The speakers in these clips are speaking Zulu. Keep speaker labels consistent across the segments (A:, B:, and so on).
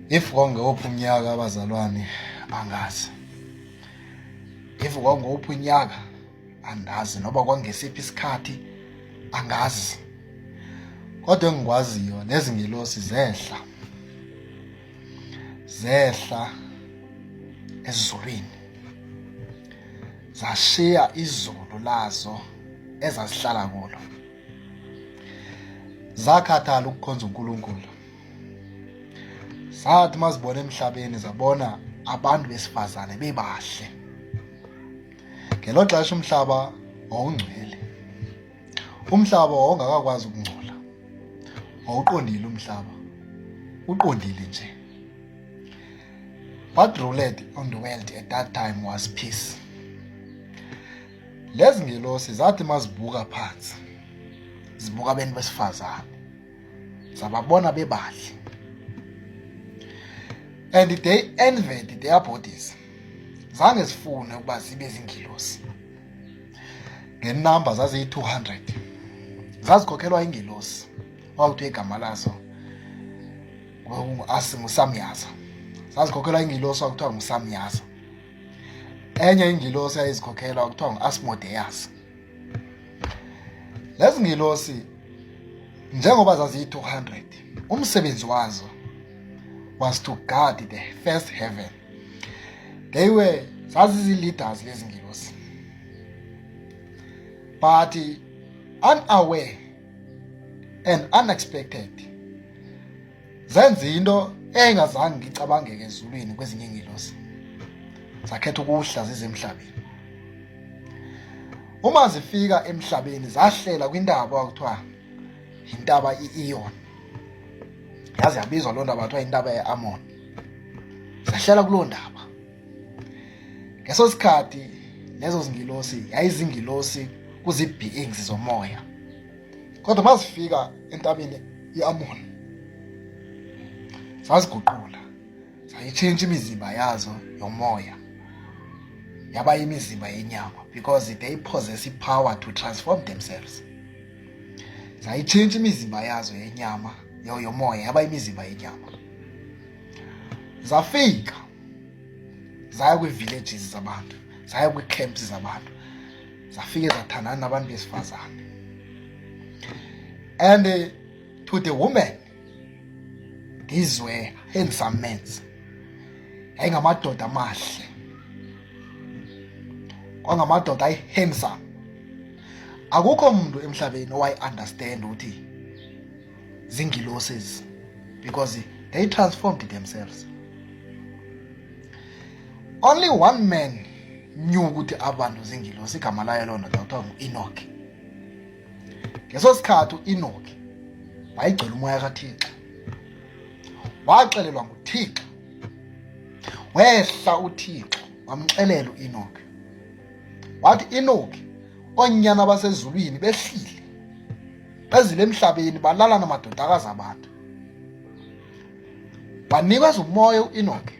A: if kwakungewophi unyaka abazalwane angazi if kwakungewophi unyaka angazi noba kwangesiphi isikhathi angazi kodwa engikwaziyo lezi ngelosi zehla zehla ezulwini zashiya izulu lazo ezazihlala kulo zakhathala ukukhonza uNkulunkulu sathi mazibona emhlabeni zabona abantu besifazane bebahle ngelo xesha umhlaba wawungcwele umhlaba wawungakakwazi ukungcola wawuqondile umhlaba uqondile nje what ruled on the world at that time was peace lezi ngelosi zathi mazibuka phansi zibuka abantu besifazane sababona bebahle and they envied their bodies zange zifune ukuba zibe zingilosi ngenumber zaziyi-200 zazikhokhelwa ingilosi wawuthi igama lazo asi ngusamyaza zazikhokhelwa ingilosi wakuthiwa ngusamyaza enye ingilosi yayizikhokhela wakuthiwa ngu-asmodeus lezi ngilosi njengoba zaziyi-200 umsebenzi wazo was to guard the first heaven they were zazizi-leaders lezi ngilosi but unaware and unexpected zenza into eyayingazange ngicabangeke ezulwini kwezinye ingilosi zakhetha ukuhla zize emhlabeni uma zifika emhlabeni zahlela kwintaba okuthiwa intaba i-Ion yazi yabizwa loo ndaba kuthiwa intaba ye-Amon zahlela kuloo ndaba ngeso sikhathi lezo zingilosi yayizingilosi kuzi-beings zomoya kodwa mazifika entabeni iAmoni saziguqula sayitshintsha imizimba yazo yomoya yaba imizimba yenyama because they possess ipower to transform themselves zayitshintsha imizimba yazo yenyama yomoya yaba imizimba yenyama zafika zaya kwi-villages zabantu zaya kwi-camps zabantu zafike zathandana nabantu besifazane and eh, to the woman these were handsome men yayingamadoda amahle kwangamadoda ayi handsome akukho muntu emhlabeni owayi understand ukuthi zingiloses because they transformed themselves only one man knew ukuthi abantu zingilosi igama layo lona kuthiwa ngu-enoki ngeso sikhathi u-enoki wayegcwele umoya kathixo waxelelwa nguthixo wehla uthixo wamxelela u-enoki wathi enoki oonyana basezulwini behlile bezile emhlabeni balala namadodakazi abantu wanikwa umoya u-enoki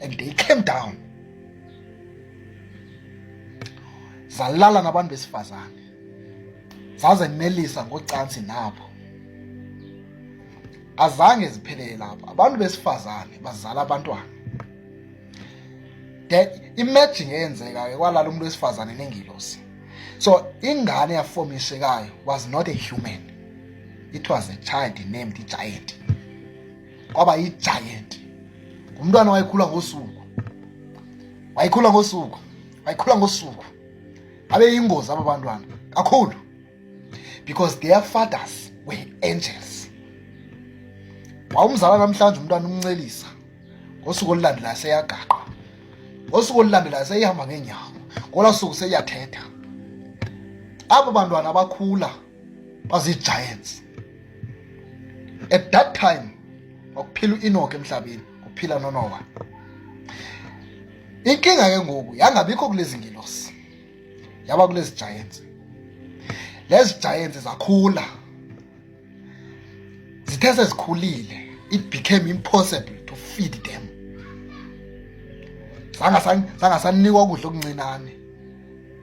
A: and they came down zalala nabantu besifazane zazenelisa ngocansi nabo azange ziphelele lapho abantu besifazane bazala abantwana that imagine eyenzeka ke kwalala umuntu wesifazane nengilosi so ingane yafomishekayo was not a human it was a child named giant kwaba yi-giant ngumntwana wayekhula ngosuku wayekhula ngosuku wayekhula ngosuku babeyingozi aba bantwana kakhulu because their fathers were angels wawumzala namhlanje umntwana umncelisa ngosuku olulandelayo seyagaqwa ngosuku olulandelayo seyihamba ngeenyawo ngola suku seyiyathetha aba bantwana abakhula bazigiants at that time wakuphila u-enoke emhlabeni kuphila nonowa inkinga ke ngoku yangabikho kulezi ngilosi yaba kulezi giants lezi giants zakhula zithe sezikhulile it became impossible to feed them zangasanikwa ukudla okuncinane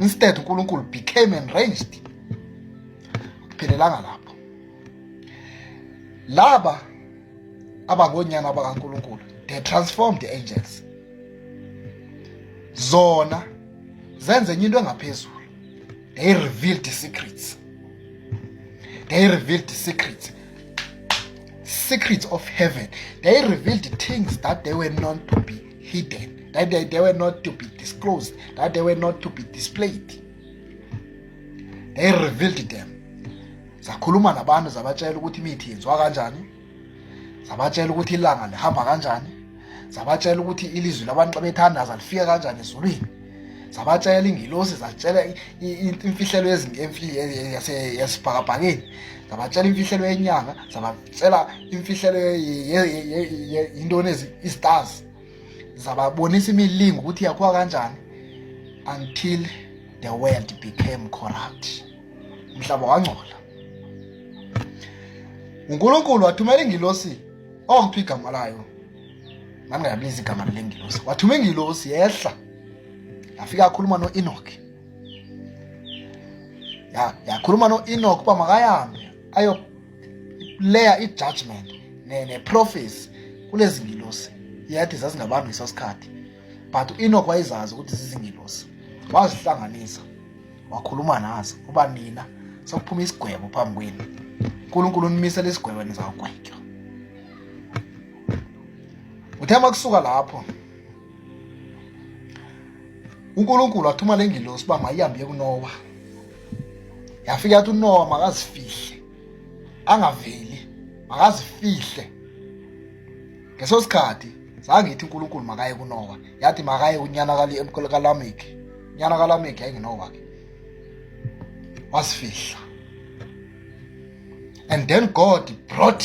A: instead uNkulunkulu became enraged phelelanga lapho laba abangonyana bakaNkulunkulu they transformed the angels zona zenze enye into engaphezulu they revealed the secrets they revealed the secrets secrets of heaven they revealed things that they were known to be hidden, that they, they were not to be disclosed, that they were not to be displayed. They revealed them. Zakhuluma nabantu zabatshela ukuthi imithi yenziwa kanjani. Zabatshela ukuthi ilanga lihamba kanjani. Zabatshela ukuthi ilizwi labantu bethandaza lifika kanjani ezulwini. Zabatshela ingilosi zatshela imfihlelo yesibhakabhakeni. Zabatshela imfihlelo yenyanga, sela imfihlelo yintoni i-stars zababonisa imilingo ukuthi yakhiwa kanjani until the world became corrupt umhlaba wangcola unkulunkulu wathumela ingilosi ongiphi igama layo nami ngayabiza igama lale ngilosi wathuma ingilosi yehla yafika akhuluma no-enoch yakhuluma no-enoch uba makahambe ayo layer i-judgment ne-prophecy kulezi ngilosi yathi zazingabantu ngeso sikhathi but u-enoch wayezazi ukuthi zizingilosi wazihlanganisa wakhuluma nazo uba nina sokuphuma isigwebo phambi kwenu unkulunkulu unimisela isigwebo nizawugwetywa uthe uma kusuka lapho uNkulunkulu wathuma le ngilosi uba mayihambe kunowa yafika yathi unowa makazifihle angaveli makazifihle ngeso sikhathi zange ithi unkulunkulu makaye kunowa yathi makaye unyana kalameki unyana kalameki yayingenowa ke wasifihla and then god brought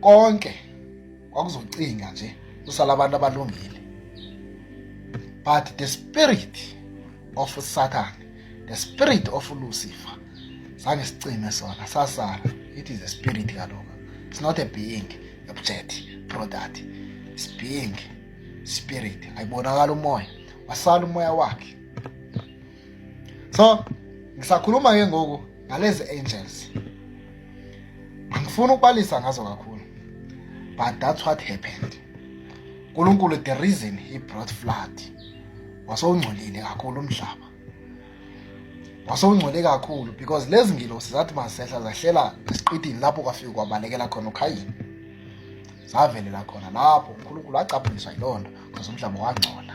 A: konke kwakuzocinga nje kusala abantu abalungile but the spirit of satan the spirit of lucifer sange sicime sona sasala it is a spirit kaloku it's not a being object product it's being spirit ayibonakala umoya wasala umoya wakhe so ngisakhuluma ke ngoku ngalezi angels angifuni ukubalisa ngazo kakhulu but that's what happened uNkulunkulu the reason he brought flood wasongcolile kakhulu umhlaba wasongcole kakhulu because lezi ngilosi zathi masehla zahlela esiqidini lapho kwafika kwabalekela khona ukhayini zavelela khona lapho uNkulunkulu acaphuliswa yilonto because umhlaba wangcola